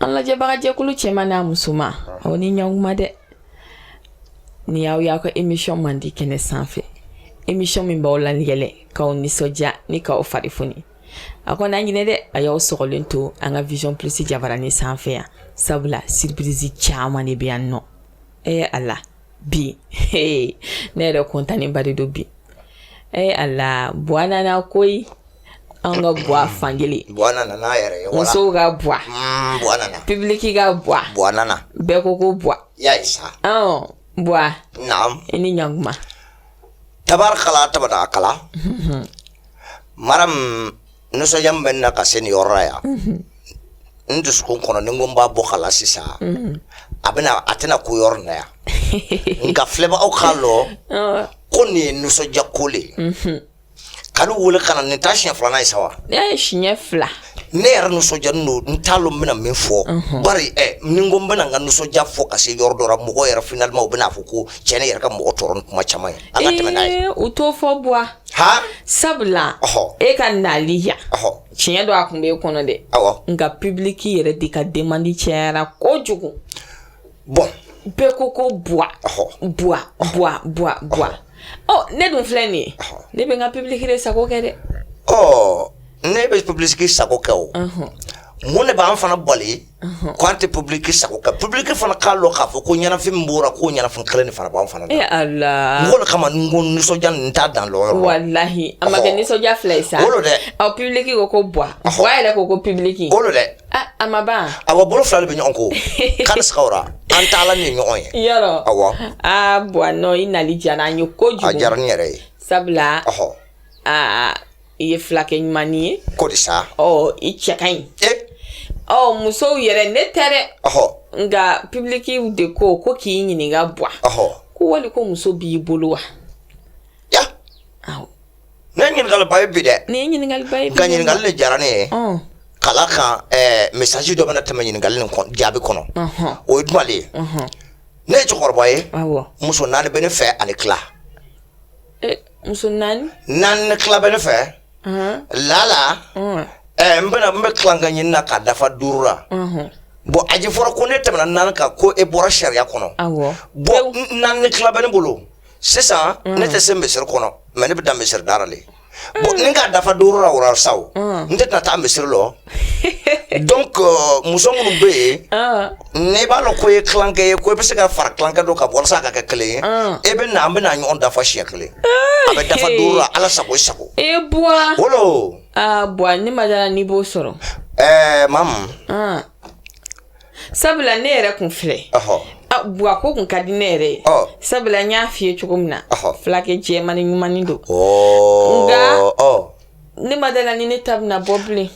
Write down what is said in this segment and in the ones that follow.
an lajɛbagajɛkulu cɛman n'a musoman aw ni ɲakuma dɛ nin y'aw y'aw ka emisiyɔn mandi kɛnɛ sanfɛ emisiyɔn min b'aw layɛlɛ k'aw nisɔndiya ni k'aw fari foni aw kana ɲinɛ dɛ a y'aw sɔgɔlen to an ka vision plus jabarani sanfɛ yan sabula siripirizi caman de bɛ yan nɔ ee ala bi ne yɛrɛ kɔntanenba de don bi ee ala buwa nana koyi an ka buwa fankelen musow ka buwa mm, pibiliki ka buwa bɛɛ ko ko buwa buwa i ni ɲakuma tabarakala tabarakala mhm. maram nisɔndiya min bɛ n na ka se nin yɔrɔ la yan mhm. n dusukun kɔnɔ ni n ko n b'a bɔ k'a la sisan mhm. a bɛna a tɛna kun yɔrɔ na yan nka filɛbagaw k'a lɔn ko nin ye nisɔndiya ko le ye kalo wele ka na nin t'a siɲɛ filanan ye sa wa nin ye siɲɛ fila ne yɛrɛ nisɔndiyanen don n t'a lɔn n bɛna min fɔ bari ɛ ni n ko n bɛna n ka nisɔndiya fɔ ka se yɔrɔ dɔ la mɔgɔw yɛrɛ finalima u bɛna fɔ ko cɛ nin yɛrɛ ka mɔgɔ tɔɔrɔ ni kuma caman ye an ka tɛmɛ n'a ye u t'o fɔ buwa ha sabula Ɔhɔ. e ka nali yan ɔhɔ tiɲɛ don a kun b'e kɔnɔ dɛ awɔ nka pibiliki yɛrɛ de ka demandi cayara kojugu bɔn bɛɛ ko ko buwa ɔhɔ buwa buwa buwa buwa ɔ ne dun filɛ nin ye ne bɛ n ka public de sago kɛ dɛ ɔ ne bɛ public sago kɛ o mun de b'an fana bali ko an tɛ public sago kɛ public fana k'a lɔn k'a fɔ ko ɲɛnafin min b'u ra k'o ɲɛnafin kelen de fana b'an fana na e ala o de kama n ko nisɔndiya nin n t'a dan lɔn yɔrɔ la walahi a ma kɛ Ɔhɔ. nisɔndiya fila ye sa o lo dɛ ɔ public ko ko buwa buwa yɛrɛ ko ko public o lo dɛ Ah, a ma ban awa bolo fila de bɛ ɲɔgɔn ko kari sigara an taala ni ɲɔgɔn ye yɔrɔ awa aa bɔn nɔ i nali diyara an ye ko a diyara ne yɛrɛ ye sabula ɔhɔ aa i ye filakɛ ɲuman ye ko de sa ɔ i cɛ ka ɲi e ɔ musow yɛrɛ ne tɛ dɛ ɔhɔ nka pibilikiw de ko ko k'i ɲininka buwa ɔhɔ ko wali ko muso b'i bolo wa ya nin ye ɲininkali ba ye bi dɛ nin ye ɲininkali ba ye bi nka ɲininkali de diyara ne ye k'a la kan ɛɛ mesaji dɔ bɛna tɛmɛ ɲininkali nin jaabi kɔnɔ o ye jumɛn de ye ne ye cɛkɔrɔba ye muso naani bɛ ne fɛ ani tila e, muso naani naani ni tila bɛ ne fɛ lala ɛɛ n bɛna n bɛ tilankɛ ɲini na k'a dafa duuru la bɔn a ye fɔra ko n'e tɛmɛna naani kan ko e bɔra sariya kɔnɔ bɔn naani ni tila bɛ ne bolo sisan mm. ne tɛ se misiri kɔnɔ mɛ ne bɛ dan misiri da ra le bon ni ka dafa duuru la wura sa o mm. n tɛ tɛna taa misiri lɔ donc euh, muso minnu bɛ yen ah. n'i b'a lɔn ko i ye tilankɛ ye ko i bɛ se ka fara tilankɛ dɔ kan walasa a ka kɛ kelen ye ah. e bɛ na an bɛ na ɲɔgɔn dafa siɲɛ kelen ah, a bɛ dafa duuru la ala sago i sago e bua wolo aa bua ne ma da a la n'i b'o sɔrɔ ɛɛ eh, mamu sabula ne yɛrɛ kun filɛ buwa ko kun ka di ne yɛrɛ ye sabula n y'a filɛ cogo min na fulakɛ jɛmani ɲumani don nka ne ma da a la ni ne ta bɛna bɔ bilen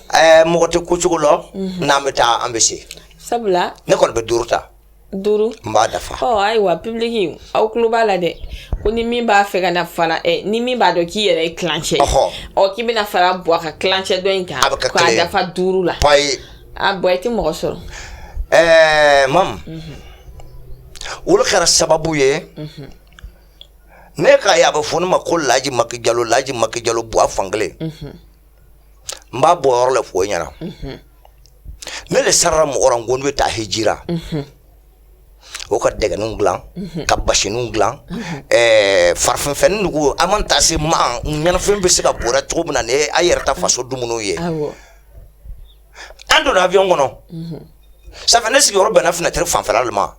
mɔgɔ tɛ ko cogo lɔn mhm. n'an bɛ taa an bɛ se sabula ne kɔni bɛ duuru ta duuru n b'a dafa ɔ ayiwa pibiliki aw tulo b'a la dɛ ko ni min b'a fɛ ka na fara ɛ ni min b'a dɔn k'i yɛrɛ ye tilancɛ ɔ k'i bɛna fara buwa ka tilancɛ dɔ in kan k'a dafa duuru la a bɔ i tɛ mɔgɔ sɔrɔ ɛɛ mamu olu kɛra sababu ye ne ka ye a bɛ fɔ ne ma ko laji maki jalo laji maki jalo buwa fankelen n b'a bɔ yɔrɔ le fɔ i ɲɛna ne le sarara mɔgɔ la n ko ne bɛ taa hiji ra o ka dɛgɛninw dilan mhm. ka basiniw dilan mhm. eh, farafinfɛn nugu an mana taa se ma ɲɛnafin bɛ se ka bɔ an ra cogo min na ni an yɛrɛ ta faso dumuniw ye an donna avion kɔnɔ mhm. sanfɛ ne sigiyɔrɔ bɛnna finɛtiri fanfɛla de ma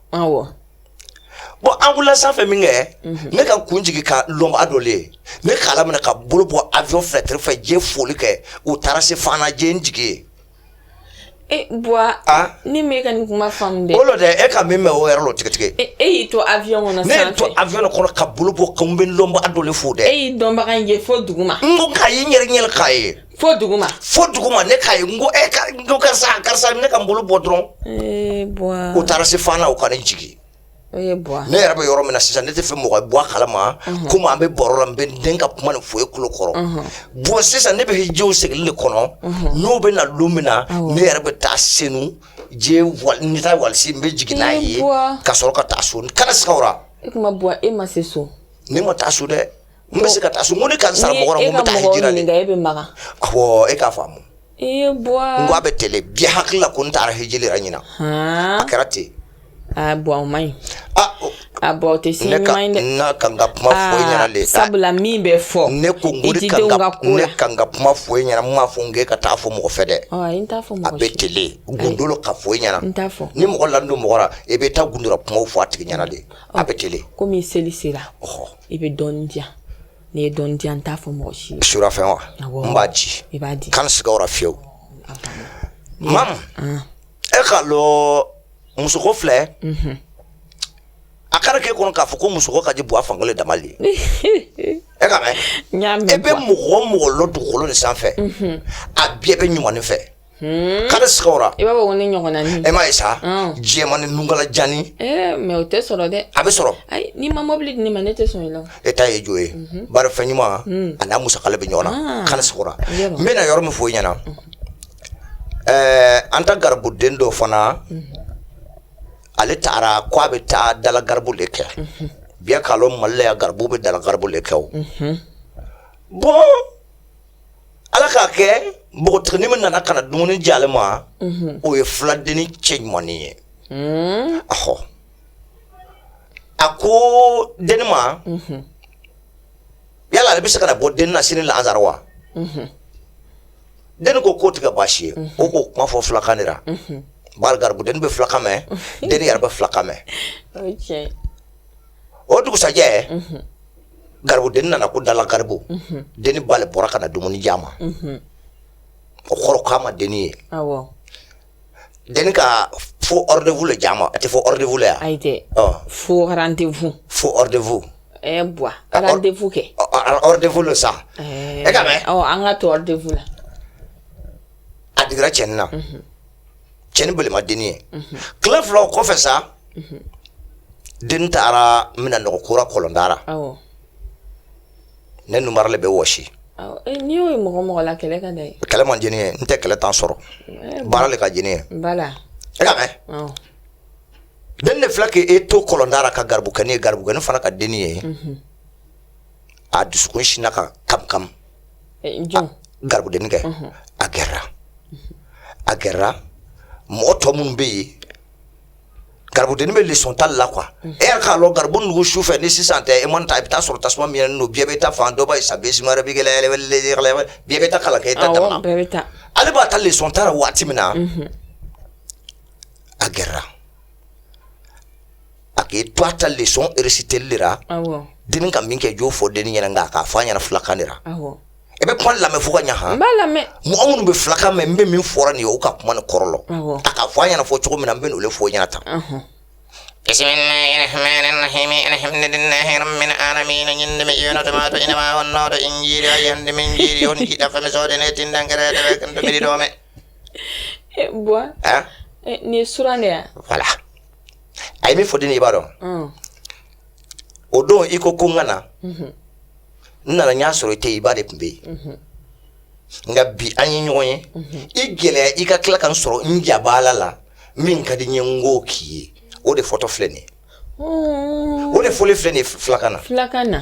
bɔn an wulila sanfɛ min kɛ ne ka kun jigin ka lɔnbaa dɔ le ye ne k'a laminɛ ka bolo bɔ avion finɛtiri fɛ n ye foli kɛ u taara se fana u ye n jigin yen E bɔra ni e ka nin kuma fan o tɛ e ka min mɛn o yɛrɛ tigitigi e y'i to a kɔnɔ ne to avion kɔnɔ ka bolo bɔ ka bɛ lɔnbaga dɔ le fo dɛ e dɔnbaga in ye fo dugu ma n k'a ye n yɛrɛ ɲɛ le k'a ye fo dugu ma fo dugu ma ne k'a ye n ko e karisa karisa ne ka bolo bɔ dɔrɔn u taara se fana o ka ne jigin ne yɛrɛ bɛ yɔrɔ min na sisan ne t'a fɛ mɔgɔ bɔ a kala ma ko an bɛ baro la n bɛ den ka kuma nin foyi kulu kɔrɔ bon sisan ne bɛ hijiw seginni de kɔnɔ n'o bɛ na don min na ne yɛrɛ bɛ taa senu yen wali n bɛ jigin n'a ye ka sɔrɔ ka taa so kana sa e e ma se so ne ma taa so dɛ n bɛ se ka taa so ko ne ka sara mɔgɔ e bɛ e k'a faamu ee buwa n ko a bɛ ten le b'i hakili la ko n taara hiji le yɛrɛ ɲinan a kɛra ten a buwa o man ɲi a buwa o tɛ si ɲuman ye dɛ ne ka n ka kuma fɔ i ɲɛna le sabula min bɛ fɔ ne ko n ko ne ka n ka kuma fɔ i ɲɛna n m'a fɔ n k'e ka taa fɔ mɔgɔ fɛ dɛ a bɛ ten le gundo le ka fɔ i ɲɛna ni mɔgɔ lanin don mɔgɔ la i bɛ taa gundora kumaw fɔ a tigi ɲɛna de a bɛ ten le komi seli sera i bɛ dɔɔnin di yan n'i ye dɔɔnin di yan n t'a fɔ mɔgɔ si ye surafɛn wa n b'a di i b'a di kana siga o fiyewu imamu e k'a lɔn musoko filɛ mhm. a kana kɛ i kɔnɔ k'a fɔ ko musoko ka di buwa fankelen dama le e ka mɛn e bɛ mɔgɔ o mɔgɔ lɔn dugukolo nin sanfɛ mhm. a bɛɛ bɛ ɲuman fɛ Hmm. Kari sigiyɔrɔ i b'a fɔ ko ne ɲɔgɔnna ni e ma ye sa diɲɛma ni nugala janani eh, mɛ o tɛ sɔrɔ dɛ a bɛ sɔrɔ n'i ma mɔbili di ne ma ne tɛ sɔn la e ta ye jo ye mhm. baara fɛn ɲuman hmm. ani n'a musa bɛ ɲɔgɔn na ah. kari sigiyɔrɔ n bɛna yɔrɔ min fɔ i ɲɛna mhm. eh, an ta garibuden dɔ fana mhm. ale taara ko a bɛ taa dala garibu de kɛ biya k'a lɔn Mali la yan garibu bɛ dala garibu de kɛ o bɔn ala k'a kɛ npogotigiini min nana ka na dumuni di ale ma mhm. o ye fuladenni cɛɲuman ye mhm. ahɔ a ko denni ma mhm. yala ale bɛ se ka na bɔ denni na sini lansara wa denni ko k'o tɛ kɛ baasi ye o k'o kuma fɔ fulakan de la bari garibu denni bɛ fulakan mɛn denni yɛrɛ bɛ fulakan mɛn o dugusɛjɛ garibu den nana ko dala garibu den b'ale bɔra ka na dumuni di ma o kɔrɔ k'a ma den ye den ka fo defu di ma a tɛ fɔ defu yan fo defu fo defu defu kɛ defu don sa e ka mɛn an ka to defu la a dra cɛin na cɛni bele ma denni ye tile fila o kɔfɛ sa denni taara minan nɔgɔ ko ra kɔlɔnda ra ne nunbara le bɛ wɔsi eh, n'i y'o ye mɔgɔ o mɔgɔ la kɛlɛ ka d'a ye kɛlɛ man di ne ye n tɛ kɛlɛ tan sɔrɔ eh, baara le ka di ne ye bala e ka mɛn denni de filɛ k'i to kɔlɔnda ra ka garibukɛni ye garibukɛni fana ka denni ye a dusukun sinna ka kamikami garibudennin kɛ a kɛra a kɛra mɔgɔ tɔ minnu bɛ yen garibudennin bɛ leçon ta la quoi e k'a dɔn garibu nugu su fɛ ni sisan tɛ e mana taa i bɛ taa sɔrɔ tasuma mɛnɛnen bɛɛ bɛ taa fan dɔ ye sa bɛ taa kalan kɛ i dan na ale b'a ta leçon ta ra waati min na a kɛra A k'i to a ta leçon récitéli la den ka min kɛ jo fɔ den ɲɛna kan k'a fɔ a ɲɛna fulakan ra i bɛ kuma lamɛn fo ka ɲɛ mɔgɔ minnu bɛ fulakan mɛn n bɛ min fɔ nin ye o ka kuma nin kɔrɔ a k'a fɔ a ɲɛna fɔ cogo min na n b'a fɔ aw ɲɛna tan Bɔn nin suran de wala a ye min fɔ de i b'a dɔn o don i ko ko n ka na n nana n y'a sɔrɔ i tɛ i ba de tun bɛ yen nka bi an ye ɲɔgɔn ye i gɛlɛya i ka tila ka n sɔrɔ n jaba la min ka di n ye n ko k'i ye o de fɔtɔ filɛ nin o de foli filɛ nin fulakan na fulakan na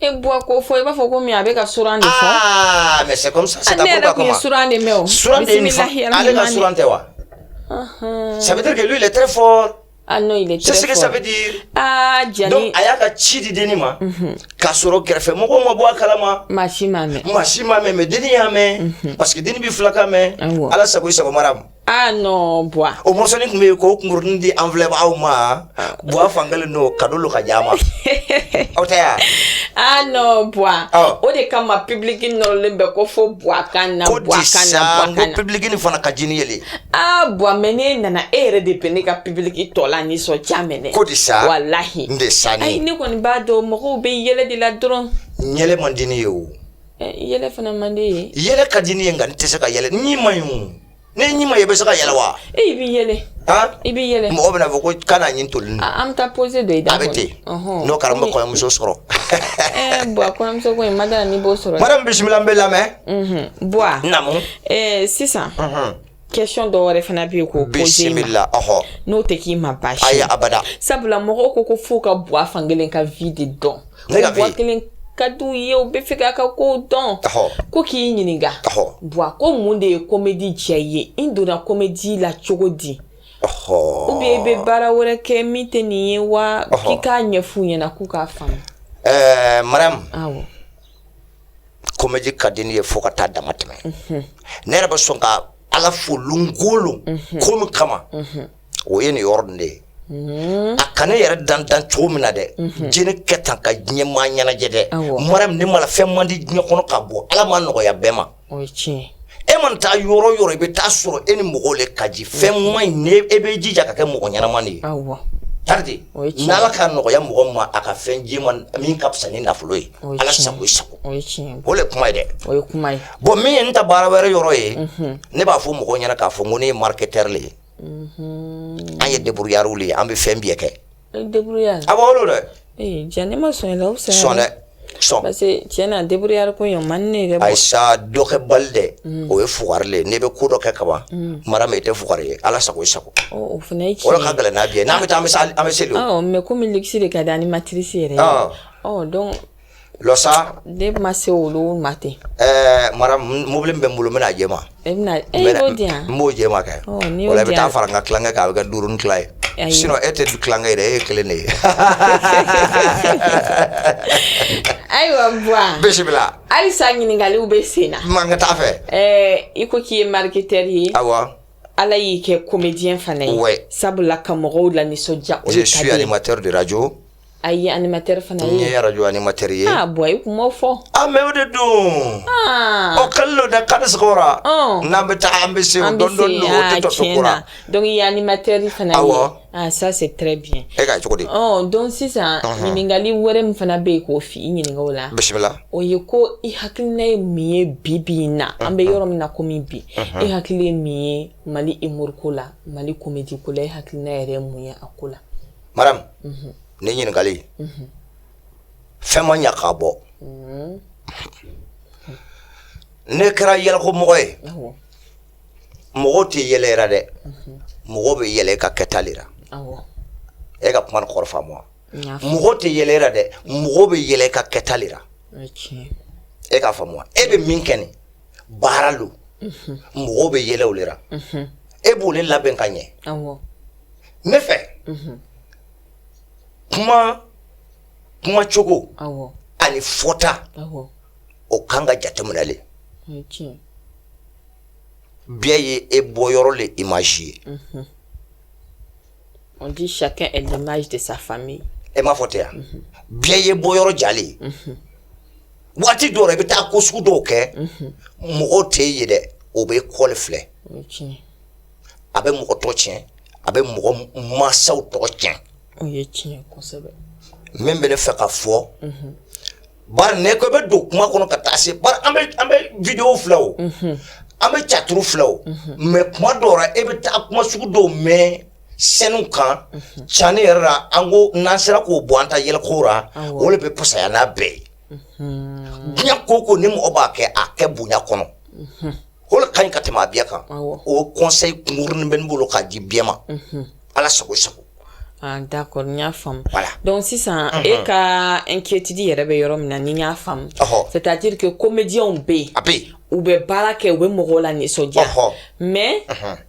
E bu ko fɔ i b'a fɔ ko min a bɛ ka suran de fɔ aa mais c'est comme ça c'est ta ne yɛrɛ tun ye suran de mɛn o suran de nin fɔ ale ka suran tɛ wa ça veut dire que lui il est très fort ah non il est très fort c'est ce que ça veut dire ah Diani donc a y'a ka ci di denni ma k'a sɔrɔ kɛrɛfɛ mɔgɔw ma bɔ a kalama maa si m'a mɛn maa si m'a mɛn mais denni y'a mɛn parce que denni bɛ filakan mɛn ala sago i sago mara Ah non buwa. O mɔsɔnin tun bɛ yen k'o kunkurunin di an filɛbagaw ma buwa fan kelen don kado don ka di an ma aw tɛ yan. Ah non buwa. Awɔ. O de kama public nɔrɔlen bɛ ko fo buwa ka na ko buwa ka na disa buwa n ka ko na. pibuliki nin fana ka jini yeli Ah buwa mɛ n'e nana e yɛrɛ de bɛ ne ka public tɔ lanisɔndiya minɛ. ko disa Walahi. n de sa Ayi ni ne kɔni b'a dɔn mɔgɔw bɛ yɛlɛ de la dɔrɔn. yɛlɛ man di ne ye o Yɛlɛ fana man di e ye yɛlɛ ka di n ye nka n tɛ se ka yɛlɛ ni ma ne ɲɛ ma i bɛ se ka yɛlɛ wa e bɛ yɛlɛ i bɛ yɛlɛ mɔgɔ bɛna fɔ ko ka nin to an bɛ taa pɔose dɔ i da bɛ ten n'o kɛra muso sɔrɔ bɔn bisimila an b'i lamɛn sisan Kɛsiyɔn dɔw wɛrɛ fana bɛ yen ko bisimila la n'o tɛ k'i ma ba a ye abada sabula mɔgɔw ko ko fo u ka buwa fan kelen ka vi de dɔn ko buwa kelen ka di u ye u b'a fɛ k'a ka kow dɔn ko k'i ɲininka buwa ko mun de ye kɔmɛdi diya i ye i donna kɔmɛdi la cogo di u bɛ i bɛ baara wɛrɛ kɛ min tɛ nin ye wa k'i k'a ɲɛfɔ u ɲɛna k'u k'a faamu ɛɛ mara kɔmɛdi ka di ne ye fo ka taa dama tɛmɛ ne yɛrɛ bɛ sɔn ka ala fo lon o lon ko min kama o ye nin yɔrɔ nin de ye a ka ne yɛrɛ dan dan cogo min na dɛ jeni kɛ tan ka diɲɛ maa ɲɛnajɛ dɛ mara ne ma fɛn man di diɲɛ kɔnɔ ka bɔ ala m'a nɔgɔya bɛɛ ma e mana taa yɔrɔ o yɔrɔ i bɛ taa a sɔrɔ e ni mɔgɔw de ka di fɛn ɲuman in ne e bɛ jija ka kɛ mɔgɔ ɲɛnama de ye bari n'ala k'a nɔgɔya mɔgɔ ma a ka fɛn d'i ma min ka fisa ni nafolo ye ala sago sago o de kuma ye dɛ bɔn min ye n ta baara wɛrɛ yɔrɔ ye ne b'a fɔ mɔgɔ ɲɛna k'a fɔ ko ne ye mariketɛri le ye an ye deburuyariw ye an bɛ fɛn bɛɛ kɛ a dɛ ayisa dɔ kɛbali dɛ o ye fugari ye ne bɛ ko dɔ kɛ kaban mara min i tɛ f ye ala sago sago ka gɛlɛn n'a ye n'an bɛ taa an bɛ seli mɛ kɔmi kisi de ka di ni matisi yɛrɛ ɔ don lɔsa ne ma se olu ma ten ɛɛ madame mobili bɛ n bolo n bɛna jɛ ma e bɛna e y'o di yan n b'o jɛ ma kɛ o la i bɛ taa fara n ka tilankɛ kan a bɛ kɛ duuru ni tila ye sinɔn e tɛ tilankɛ ye dɛ e ye kelen de ye ayiwa buwa bisimila halisa ɲininkaliw bɛ sen na man ka taa fɛ ɛɛ i ko k'i ye mariketɛri ye awa ala y'i kɛ komediyɛn fana ye sabula ka mɔgɔw lanisɔndiya o de ka di ye je suis animateur de radio A ye animatɛri fana ye arajo animatɛri ye bɔ i kun fɔ an mɛ o de don o kalo da kari n'an bɛ taa an bɛ se an dɔnkili yan animatɛri fana aa sa se tɛ bi e ka cogo dɔn sisan ɲininkali wɛrɛ min fana bɛ yen k'o f i ɲininkakaw la bisimila o ye ko i hakilina ye mun ye bi bi in na an bɛ yɔrɔ min na komi bi e hakili ye mun ye mali humour ko la mali komedi ko la e hakilina yɛrɛ ye mun ye a ko la madame ne ɲininkali fɛn ma ɲɛ k'a bɔ ne kɛra yɛlɛko mɔgɔ ye mɔgɔw tɛ yɛlɛ i ra dɛ mɔgɔ bɛ yɛlɛ i ka kɛta de la e ka kuma kɔrɔ faamu wa mɔgɔ tɛ yɛlɛ i ra dɛ mɔgɔ bɛ yɛlɛ i ka kɛta de la e ka faamu e bɛ min kɛ nin baara don mɔgɔw bɛ yɛlɛ o de la e b'o le labɛn ka ɲɛ ne fɛ kuma kuma cogo ani fɔta o ka kan ka jateminɛ le bɛɛ ye i bɔyɔrɔ le image ye on dit chacun est l'image de sa famille e m'a fɔ tɛ yan bɛɛ ye i bɔyɔrɔ ja le ye waati dɔw la i bɛ taa ko sugu dɔw kɛ mɔgɔw tɛ i ye dɛ o bɛ i kɔ le filɛ a bɛ mɔgɔ tɔgɔ tiɲɛ a bɛ mɔgɔ masaw tɔgɔ tiɲɛ o ye tiɲɛ kosɛbɛ min bɛ ne fɛ ka fɔ bari ne kɔni bɛ don kuma kɔnɔ ka taa se bari an bɛ an bɛ video filɛ o an bɛ tiyatiri filɛ o mais kuma dɔw la e bɛ taa kuma sugu dɔw mɛn sɛniw kan cani yɛrɛ la an ko n'an sera k'o bɔ an ta yɛlɛko la o de bɛ fusaya n'a bɛɛ ye diɲɛ ko o ko ni mɔgɔ b'a kɛ a kɛ bonya kɔnɔ O ka ɲi ka tɛmɛ a bɛɛ kan o conseil kunkurun bɛ n bolo k'a di bɛɛ ma ala sago sago da y'a faamu donc sisan e ka inquiétude yɛrɛ bɛ yɔrɔ min na ni n y'a faamu c'est-à-dire que komediw bɛ yen a bɛ u bɛ baara kɛ u bɛ mɔgɔw lanisɔndiya mais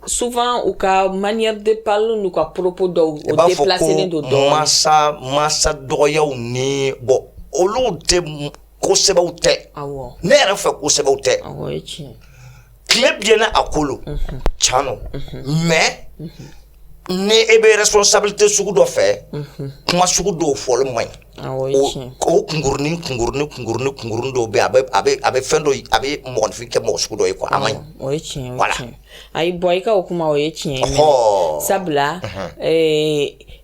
souvent u ka manière de parler uu ka propos dɔw u b'a fɔ don dɔn masa masa dɔgɔw ni bɔ olu tɛ ko sɛbɛw tɛ ne yɛrɛ fɛ ko sɛbɛw tɛ tile biɲɛna a kolo mhm. can don mhm. mais mhm. ni e bɛ responsabilité sugu dɔ fɛ kuma sugu dɔw fɔli man ɲi o kunkurunin kunkurunin kunkurunin kunkurunin dɔw bɛ a bɛ a bɛ a bɛ fɛn dɔ a bɛ mɔgɔninfin kɛ mɔgɔ sugu dɔ ye quoi a man ɲi o ye tiɲɛ ye voilà ayi bɔn i ka o kuma o ye tiɲɛ ye sabula ee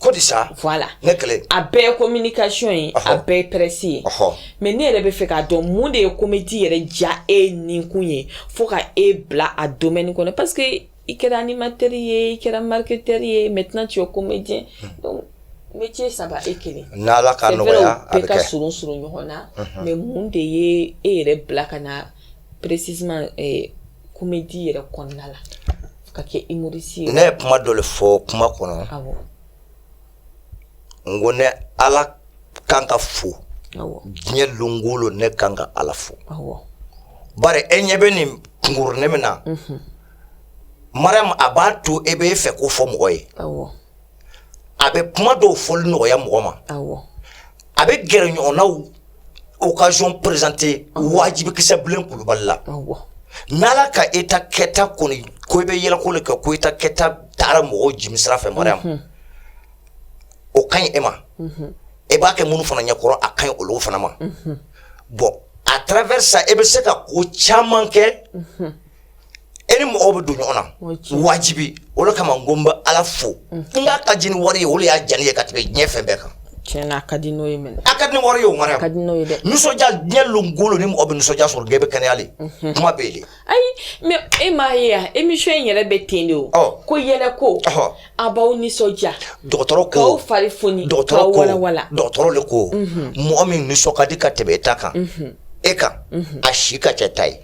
ko di sa voilà ne kɛlɛ a bɛɛ ye communication ye a Ɔhɔ. bɛɛ ye presse ye ɔhɔ mais ne yɛrɛ bɛ fɛ k'a dɔn mun de ye comédie yɛrɛ diya e ninkun ye fo ka e bila a domaine kɔnɔ parce que i kɛra animateur ye i kɛra marketeur ye maintenant tu es comédien donc métier saba e kelen n'ala ka c'est vrai nɔgɔya a u bɛɛ bɛ ka kɛ surun surun ɲɔgɔn na mais mun de ye e yɛrɛ bila ka na précisément eh, comédie yɛrɛ kɔnɔna la ka kɛ humoriste ne ye kuma dɔ le fɔ kuma kɔnɔ n ko ne ala kan ka fo diɲɛ donkolo ne kan ka ala fo bari e ɲɛ bɛ nin kunkurunin min na Mariam a b'a to e bɛ e fɛ ko fɔ mɔgɔ ye a bɛ kuma dɔw fɔli nɔgɔya mɔgɔ ma a bɛ gɛrɛ ɲɔgɔn na occasion présenter wajibi kisɛbilen kulubali la n' ala ka e ta kɛta kɔni ko i bɛ yɛlɛko le kɛ ko e ta kɛta taara mɔgɔw jimi sira fɛ Mariam o ka ɲi e ma e b'a kɛ minnu fana ɲɛkɔrɔ a ka ɲi olu fana ma bɔn à travers ça e bɛ se ka ko caman kɛ e ni mɔgɔw bɛ don ɲɔgɔn na wajibi o de kama ko n bɛ ala fo n k'a ka di ni wari ye o de y'a diya ne ye ka tɛmɛ diɲɛ fɛn bɛɛ kan tiɲɛ na a ka di n'o ye mɛnɛ a ka di ni wari ye o Mariam a ka di n'o ye dɛ nisɔndiya diɲɛ longolo ni mɔgɔ bɛ nisɔndiya sɔrɔ diɲɛ bɛ kɛnɛya le kuma bɛ yen de ayi mais e m'a ye yan émission in yɛrɛ bɛ ten de o Ɔ. ko yɛlɛko Ɔhɔ. a b'aw nisɔndiya dɔgɔtɔrɔ ko k'aw fari foni dɔgɔtɔrɔ k'aw ko walawala dɔgɔtɔrɔ le ko mɔgɔ min nisɔn ka di ka tɛmɛ e ta kan e kan a si ka ca e ta ye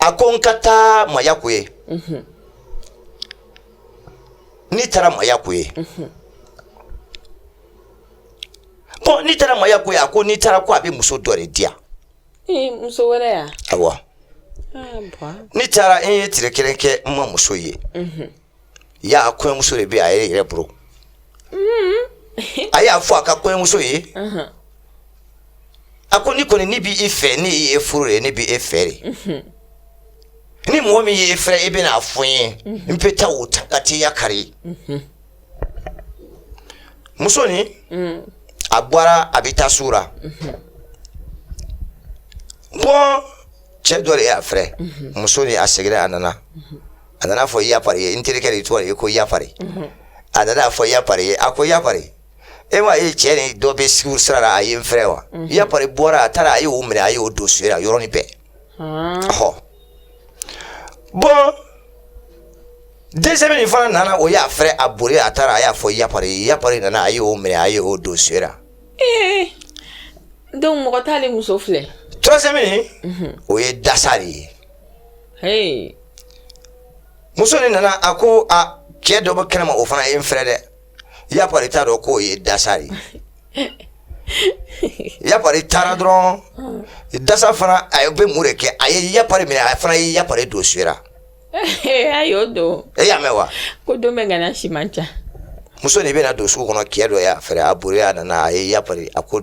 a ko n ka taa maya ko ye n'i taara maya ko ye bɔn n'i taara maya ko ye a ko n'i taara ko a bɛ muso dɔ de di yan muso wɛrɛ yan ayiwa n'i taara e ye tile kelen kɛ n ma muso ye y'a a kɔɲɔmuso de bɛ a ye yɛrɛ bolo a y'a fɔ a ka kɔɲɔmuso ye a ko ni kɔni ne b'i fɛ ne ye furu ye ne b' e fɛ de ni mɔgɔ min ye e fɛ i bɛna fɔ ye n bɛ taa o ta ka tɛya kari muso ni a bɔra a bɛ taa su la bɔn cɛ dɔ de y'a fɛ muso ni a seginna a nana a nana fɔ ya pari ye n terikɛ de tɔgɔ ye ko ya pari mhm. a nana fɔ ya pari ye a ko ya pari e m'a ye cɛnin dɔ bɛ sigi sira la a ye n fɛrɛ wa mhm. ya pari bɔra a taara a ye o minɛ a ye o don so la yɔrɔnin bɛɛ ɔhɔ bɔn deuxième nin fana nana o y'a fɛrɛ a boli a taara a y'a fɔ ya pari ya pari nana a ye o minɛ a ye o don so la. Eh, donc mɔgɔ t'ale muso filɛ. troisième mhm. o ye dasa de ye. muso nin nana a ko cɛ dɔ bɛ kɛnɛma o fana ye n fɛrɛ dɛ ya pari t'a dɔn k'o ye dasa ye ya pari taara dɔrɔn dasa fana a bɛ mun de kɛ a ye ya pari minɛ a fana ye ya pari don so la y'a mɛn wa ko don bɛ si ca muso nin bɛna don sugu kɔnɔ cɛ dɔ y'a fɛrɛ a boli a nana a ye ya a ko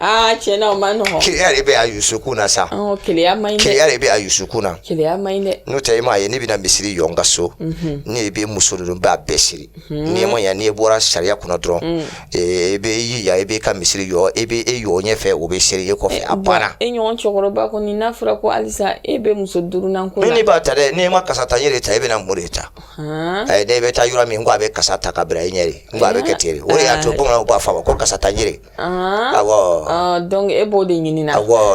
aa tiɲɛna o man nɔgɔn keleya de bɛ a yusukun na sa ɔn keleya man ɲi dɛ keleya de bɛ a yusukun na keleya man ɲi dɛ n'o tɛ i m'a ye ne bɛna misiri jɔ n ka so mhm. ne bɛ muso ninnu b'a bɛɛ seri mhm. n'i ma ɲa n'i bɔra sariya kunna dɔrɔn mm. e, e bɛ i ya e bɛ ka misiri jɔ e bɛ e jɔ ɲɛfɛ o bɛ seri e kɔfɛ a banna e ɲɔgɔn cɛkɔrɔba kɔni n'a fɔra ko halisa e bɛ muso duurunan ko la ne b'a ta dɛ n'i ma kasa ta n yɛrɛ ta e bɛna mun de ta ne bɛ taa yɔrɔ min ko a bɛ kasa ta ka bila i ɲɛ de n ko a bɛ kɛ ten de o de y'a to bamananw b'a fɔ a ma ko kasa ta n yɛrɛ Dɔnku e b'o de ɲini na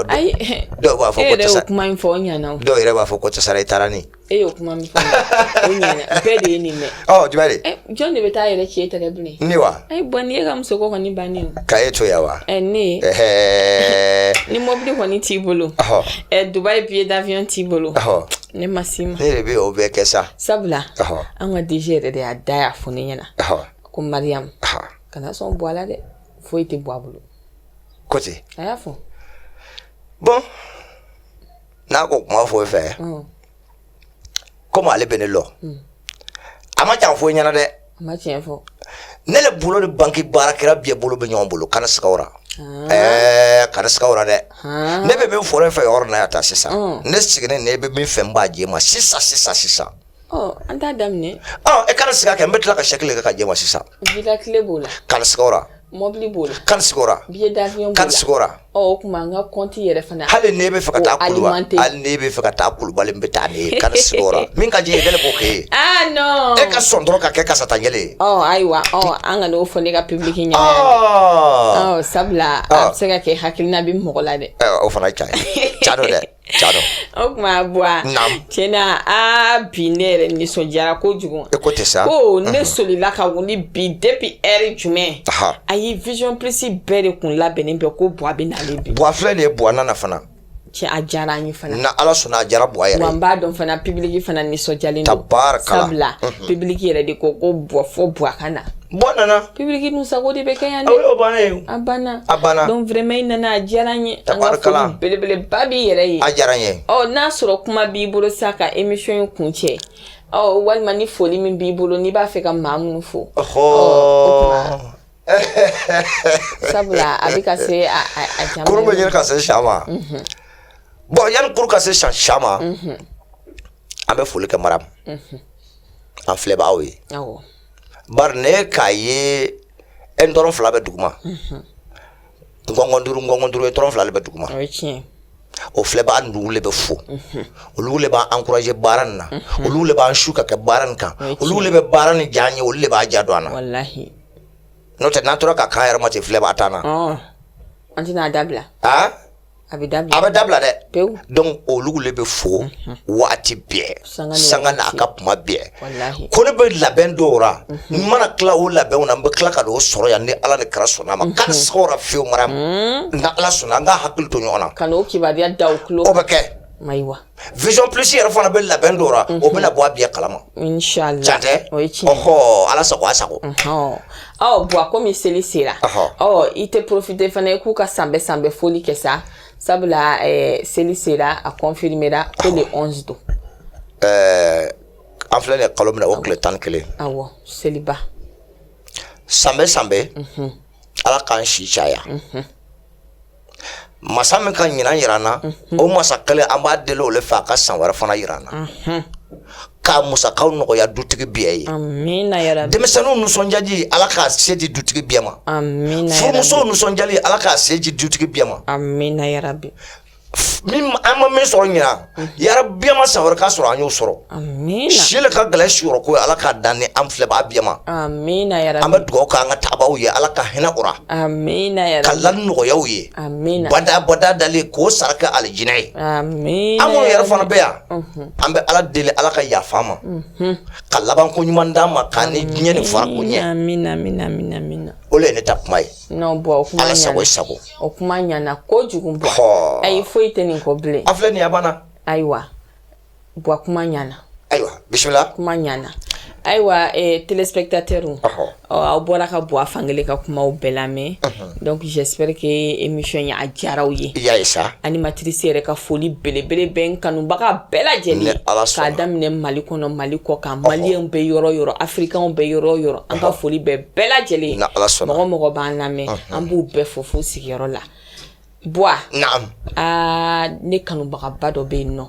ayi dɔw b'a fɔ e yɛrɛ kuma in fɔ ɲɛna dɔw yɛrɛ b'a fɔ ko sara i taara ni e y'o kuma min bɛɛ de ye nin dɛ jɔn de bɛ taa yɛrɛ cɛ tɛgɛ bilen ne wa bɔn ne e ka muso kɔni bannen ka e to yan wa ne ni mɔbili kɔni t'i bolo duba ye bi ye dayɔn t'i bolo ne ma si ma e de bɛ o bɛɛ kɛ sa sabula an ka disi yɛrɛ de y'a da y'a fɔ ne ɲɛna ko mariaya kana sɔn bɔ ala dɛ foyi tɛ bɔ a bolo n'o tɛ a y'a fɔ bɔn n'a ko kuma foyi fɛ komi ale bɛ ne lɔn mm. a ma jan foyi ɲɛna dɛ ne le bolo ni banki baara kɛra biyɛn bolo bɛ ɲɔgɔn bolo kana siga a ra ah. eh, kana siga a ra dɛ ah. ne bɛ min fɔra fɛ yɔrɔ na ya taa sisan mm. ne sigilen ne bɛ min fɛn b'a di e ma sisan sisan sisan An t'a daminɛ e kana siga kɛ n bɛ tila ka sɛki le kɛ k'a di e ma sisan b'o la kari mɔbili b'o la kari o tuma an ka kɔnti yɛrɛ fana hali ne bɛ fɛ ka taa ne bɛ fɛ ka taa kulubali bɛ taa ni kari min ka jɛ yɛrɛ b'o kɛ e ka sɔn dɔrɔn ka kɛ kasa ta kelen ayiwa an kan'o fɔ ne ka publiki ɲɛ sabula a bɛ se ka kɛ hakilina bɛ mɔgɔ la dɛ o fana ca ca dɛ O tuma bɔ ti na aa bi ne yɛrɛ nisɔndiyara ko kojugu e ko tɛ sa ko ne solila ka wuli bi depuis heure jumɛn a ye vision plus bɛɛ de kun labɛnnen bɛ ko bɔ a bɛ na bi bɔ filɛ de ye bɔ nana fana cɛ a diyara an fana na ala sɔnna a jara bɔ a n b'a dɔn fana public fana nisɔndiyalen ta baara ka bila public yɛrɛ de ko ko bɔfɔ bu a ka na Bɔn na public dun sago de bɛ kɛ yan a banna a banna donc vraiment i nana a diyara n ye abarika belebele ba b'i yɛrɛ ye a diyara n ye ɔ n'a sɔrɔ kuma b'i bolo sa ka émission kuncɛ walima ni foli min b'i bolo n'i b'a fɛ ka maa minnu fo sabula a bɛ ka se bɛ ka se sa ma bɔn yanni kurun ka se cɛncɛn ma an bɛ foli kɛ Maram an filɛbagaw ye bari ne k'a ye e dɔrɔn fila bɛ duguma nkɔnkɔn duuru nkɔnkɔn duuru ye dɔrɔn fila de bɛ duguma o filɛbaa nugu de bɛ fo olu de b'an ankuraje baara nin na olu de b'an su ka kɛ baara nin kan olu de bɛ baara nin diya ye olu de b'a diya don an na n'o tɛ n'an tora k'a k'an yɛrɛ ma tɛ filɛbaa t'an na an tɛna dabila a bɛ dabila dɛ dɔnku olu de bɛ fo waati bɛɛ sanga n'a ka kuma bɛɛ ko ne bɛ labɛn dɔw la n mana tila o labɛnw na n bɛ tila ka don o sɔrɔ yan ni ala ni kira sɔnna a ma ka sɔrɔ fiye Maram n'ala sɔnna an ka hakili to ɲɔgɔn na o bɛ kɛ vision plus yɛrɛ fana bɛ labɛn dɔ la aw bɛna bɔ a bɛɛ kalama inchallah can tɛ o ye tiɲɛ ɔhɔ ala sago a sago ɔ bɔn a komi seli sera ɔ i tɛ profite fana i k'u ka san bɛɛ san bɛɛ foli kɛ sa sabula ɛɛ seli sera a confirmera ko le 11 don ɛɛ an filɛ nin ye kalo min na o tile tan ni kelen awɔ seliba san bɛɛ san bɛɛ ala k'an si caya masa min ka ɲinan jira an na o masa kelen an b'a deli o le fɛ a ka san wɛrɛ fana jira an na k'a musakaw nɔgɔya dutigi bɛɛ ye denmisɛnninw nisɔndiyali ala k'a se di dutigi bɛɛ ma furumusow nisɔndiyali ala k'a se di dutigi bɛɛ ma min an ma min sɔrɔ ɲinan Yarabi yanni san wɛrɛ ka sɔrɔ an y'o sɔrɔ si ka gɛlɛn sɔrɔ ko ala k'a d'an ni an filɛbaa bɛɛ ma an bɛ dugawu k'an ka taabaa ye ala ka hinɛ u ra ka la nɔgɔya u ye badabada dali k'o sara kɛ alijinɛ ye an yɛrɛ fana bɛ yan an bɛ ala deli ala ka yafa an ma ka laban ko ɲuman d'an ma k'an ni diɲɛ nin fara o ɲɛ o ye ne ta kuma ye n'o bɔn o kuma ɲana, Ala sago i sago, o kuma ɲana kojugu bɔn, hɔɔ, ayi foyi tɛ nin kɔ bilen, a filɛ nin ye a banna, ayiwa bɔn kuma ɲana, ayiwa bisimila, kuma ɲana ayiwa eh, téléspectateurs aw bɔra ka bɔ a fankelen ka kumaw bɛɛ lamɛn donc j'espère que émission ye a diyara aw ye y'a ye sa animatrice yɛrɛ ka foli belebele bɛ n kanubaga bɛɛ lajɛlen k'a daminɛ mali kɔnɔ mali kɔkan maliyɛnw bɛ yɔrɔ yɔrɔ africains bɛ yɔrɔ yɔrɔ an ka foli bɛ bɛɛ lajɛlen mɔgɔ mɔgɔ b'an lamɛn an b'u bɛɛ fo fo u sigiyɔrɔ la bua aa ne kanubagaba dɔ bɛ yen nɔ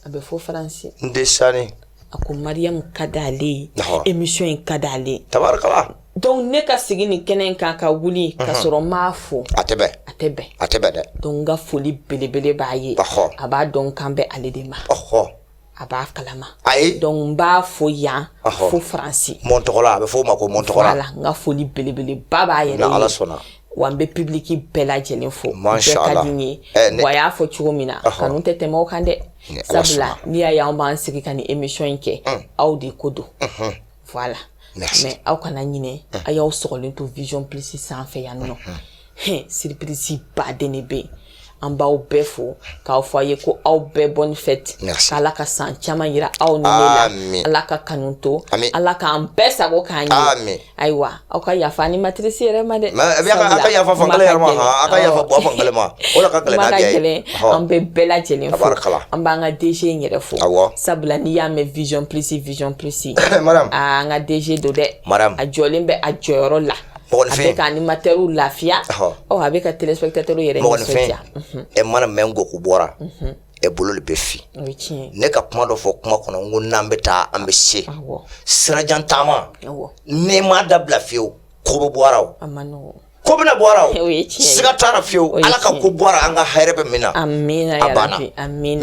a bɛ fo faransi n tɛ sani a ko mariyamu ka di ale ye émission in ka di ale ye tabarikala donc ne ka sigi nin kɛnɛ in kan ka wuli ka sɔrɔ n m'a fo a tɛ bɛn a tɛ bɛn a tɛ bɛn dɛ donc n ka foli belebele b'a ye a b'a dɔn n kan bɛ ale de ma a b'a kalama ayi donc n b'a fo yan fo faransi mɔn tɔgɔla a bɛ fɔ o ma ko mɔn tɔgɔla voilà n ka foli belebeleba b'a yɛrɛ ye ala sɔnna wa n bɛ publiki bɛɛ lajɛlen fo bɛɛ ka di n ye wa a y'a fɔ cogo min na kanu tɛ tɛmɛ o kan dɛ sabula n'i y'a ye an b'an sigi ka nin émission in kɛ aw de ko don voilà Merci. mais aw kana ɲinɛ a y'aw sɔgɔlen to vision plus sanfɛ yan nɔ Hɛn, surprise ba de bɛ yen an b'aw bɛɛ fo k'a fɔ aw ye ko aw bɛɛ bonne fête Merci. k'ala ka san caman yira aw ni ne la Amen. ala ka kanu to Amen. ala k'an bɛɛ sago k'an ye Amen. ayiwa aw ka yafa animatrice yɛrɛ ma dɛ a ka yafa fan yɛrɛ ma a ka yafa bɔ fan ma o la ka gɛlɛn an bɛ bɛɛ lajɛlen fo an b'an ka DG in yɛrɛ fo sabula n'i y'a mɛn vision plus vision plus an ka DG don dɛ a jɔlen bɛ a jɔyɔrɔ la a bɛ ka animateurw lafiya a bɛ ka téléspectateurs yɛrɛ nisɔndiya ɛ mana mɛn n ko ko bɔra e bolo de bɛ fin ne ka kuma dɔ fɔ kuma kɔnɔ n ko n'an bɛ taa an bɛ se sirajan taama ne ma dabila fiyewu ko bɔraw ko bɛna bɔra siga taara fiyewu ala ka ko bɔra an ka hɛrɛ bɛ min na a banna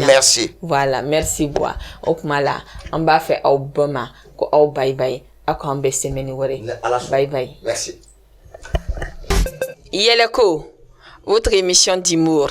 merci voilà merci bɔn o tuma la an b'a fɔ aw bɛɛ ma ko aw bayi bayi aw k'an bɛn semaine wɛrɛ bayi bayi yɛlɛko votre émission d'humour